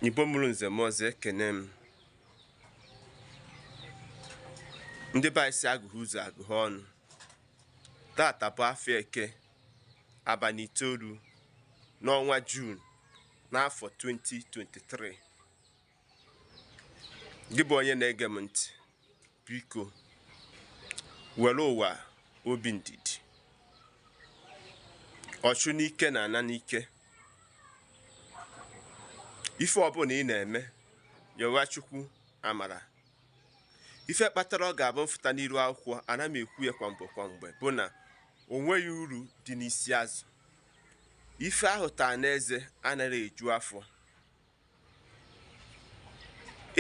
Igbo mụrụ nze mụọ ọzọ ekene m ndị be anyị sị agụghị ụzọ agụghị ọnụ tata bụ afọ eke abalị itoolu n'ọnwa Juun n'afọ 2023 gị bụ onye na-ege m ntị biko were ụwa obi ndidi ọchụ n'ike na-ana n'ike ife ọbụla ị na-eme yọwa chukwu amara ife kpatara ọ ga-abụ m fụta n'iru akwụkwọ ana m ekwu ya kwa mgbe kwa mgbe bụ na o nweghị uru dị n'isi azụ ife a ghụtaa n'eze anaghị eju afọ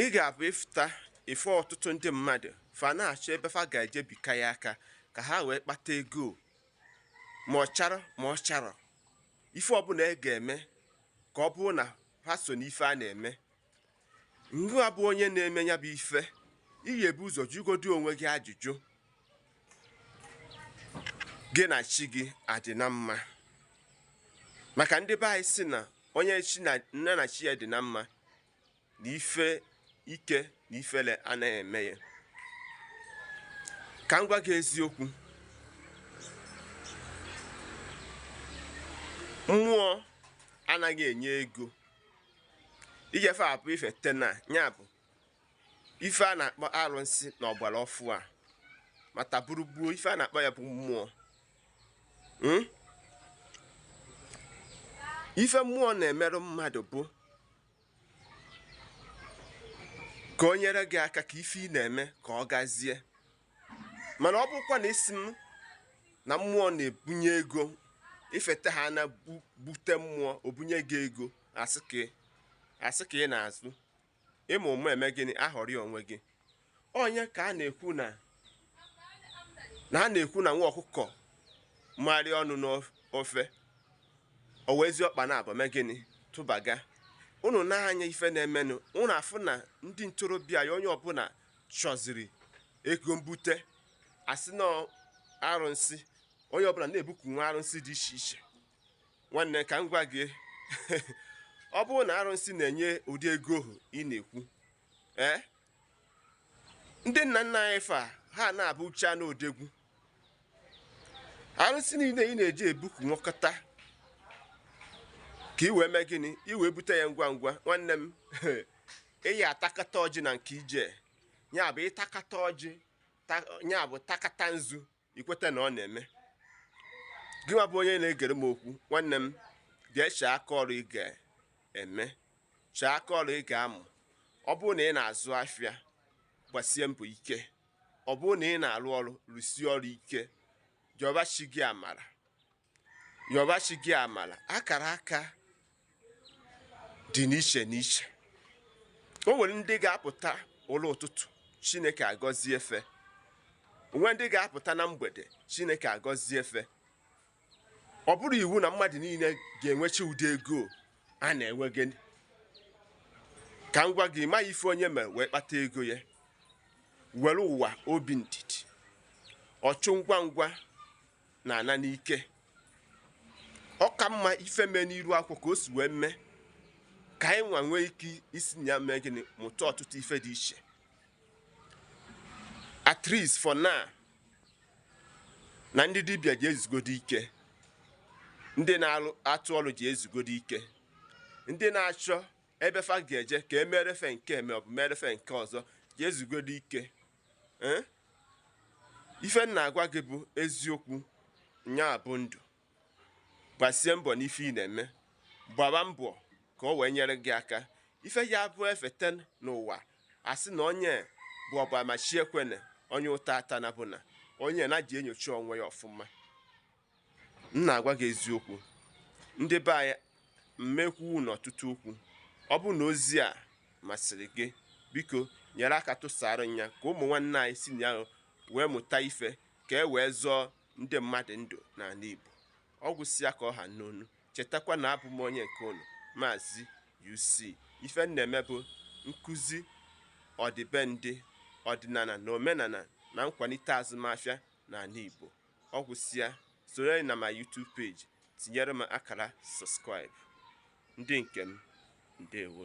ị ga-abụ ị fụta ife ọtụtụ ndị mmadụ fa na-achọ ebe fa ga-eje bika ya aka ka ha wee kpata ego ma ọ chara ma ọ charọ ife ọbụla e ga-eme ka ọ bụrụ na ha so n'ife a na-eme ngịwa bụ onye na-eme ya bụ ife ị ya-ebu ụzọ jụgodi onwe gị ajụjụ gị na chi gị adị na mma maka ndị be anyị sị na onye chi na onye na chi ya dị na mma na ife ike na ifele anaghị eme ya ka m gwa gị eziokwu mmụọ anaghị enye ego ijefe abụ i fete na ya bụ ife a na-akpọ arụsị na ọgbara ọfụụ a mata buru gbuo ife a na-akpọ ya bụ mmụọ hmm? ife mmụọ na-emeru mmadụ bụ ka o nyere gị aka ka ife ị na-eme ka ọ gazie mana ọ bụkwa na ị sị m na mmụọ na-ebunye ego i fete ha na i bute mmụọ o bunye gị ego asị ka ị na-azụ ịma ụmụ eme gịnị aghọrị onwe gị onye ka a na-ekwu na na a na-ekwu na nwa ọkụkọ marị ọnụ n'ofe o wezie ọkpa naabọ mee gịnị tụbaga unu nee anya ife na-emenụ unu afụ na ndị ntorobịa ya onye ọbụla chọziri ego mbute a sị na arụsị onye ọbụla na-ebuku nwa arụsị dị iche iche nwanne ka m gwa gị ọ bụrụ na arụsị na-enye ụdị ego ahụ ị na-ekwu ee ndị nna nna anyị fa ha na-abụchanụ odogwu arụsị niile ị na-eji ebuku nwekọta ka ị wee mee gịnị ị wee bute ya ngwa ngwa nwanne m ị ya-atakata ọjị na nke ije ya bụ ị takata ọjị ya bụ takata nzu ikweta na ọ na-eme gị nwa bụ onye na-egere m okwu nwanne m jee chee aka ọrụ ị ga-eme chee aka ọrụ ị ga-amụ ọ bụrụ na ị na-azụ afịa gbasie mbọ ike ọ bụrụ na ị na-arụ ọrụ rụsie ọrụ ike yọba chi gị amara yọba chi gị amala akara aka dị n'iche n'iche o nwere ndị ga-apụta ụlọ ụtụtụ chineke agọzie fa o nwere ndị ga-apụta na mgbede chineke agọzie fa ọ bụrọ iwu na mmadụ niile ga-enwecha ụdị ego a na-enwe gị ka m gwa gị ị ma ife onye mere wee kpata ego ya were ụwa obi ndidi ọchụ ngwa ngwa na-ana n'ike ọ ka mma ife mee n'iro a kọọ ka o si wee mee ka anyị nwa nwee ike isi na ya mee gịnị mụta ọtụtụ ife dị iche at least for now na ndị dibịa jee zugodo ike ndị na-atụ ọrụ jee zugodo ike ndị na-achọ ebe fa ga-eje ka e meere fa nke a ma ọ bụ meere fa nke ọzọ jee zugodo ike eh? ife m na-agwa gị bụ eziokwu nya bụ ndụ gbasie mbọ n'ife ị na-eme gbaba mbọ ka o wee nyere gị aka ife ya bụ efeta n'ụwa a sị na onye bụ ọgba ma chi ekwene onye ụta atana bụ na onye nya jee nyocha onwe ya ọfụma m na-agwa gị eziokwu ndị be anyị m ma ekwunwu ọtụtụ okwu ọ bụrụ na ozi a masịrị gị biko nyere aka tụsara ya ka ụmụ nwanne anyị si na ya wee mụta ife ka e wee zọọ ndị mmadụ ndụ n'anị Igbo ọ gwụsịa ka ọ ha n'ọnụ chetakwa na abụ m onye nke unu maazị UC ife m na-eme bụ nkụzi ọdịbendị ọdịnana na omenana na nkwanite azụmafịa n'anị Igbo Ọ gwụsịa, soro anyị na my YouTube page tinyere m akara subscribe. Ndị nke m, ndewo.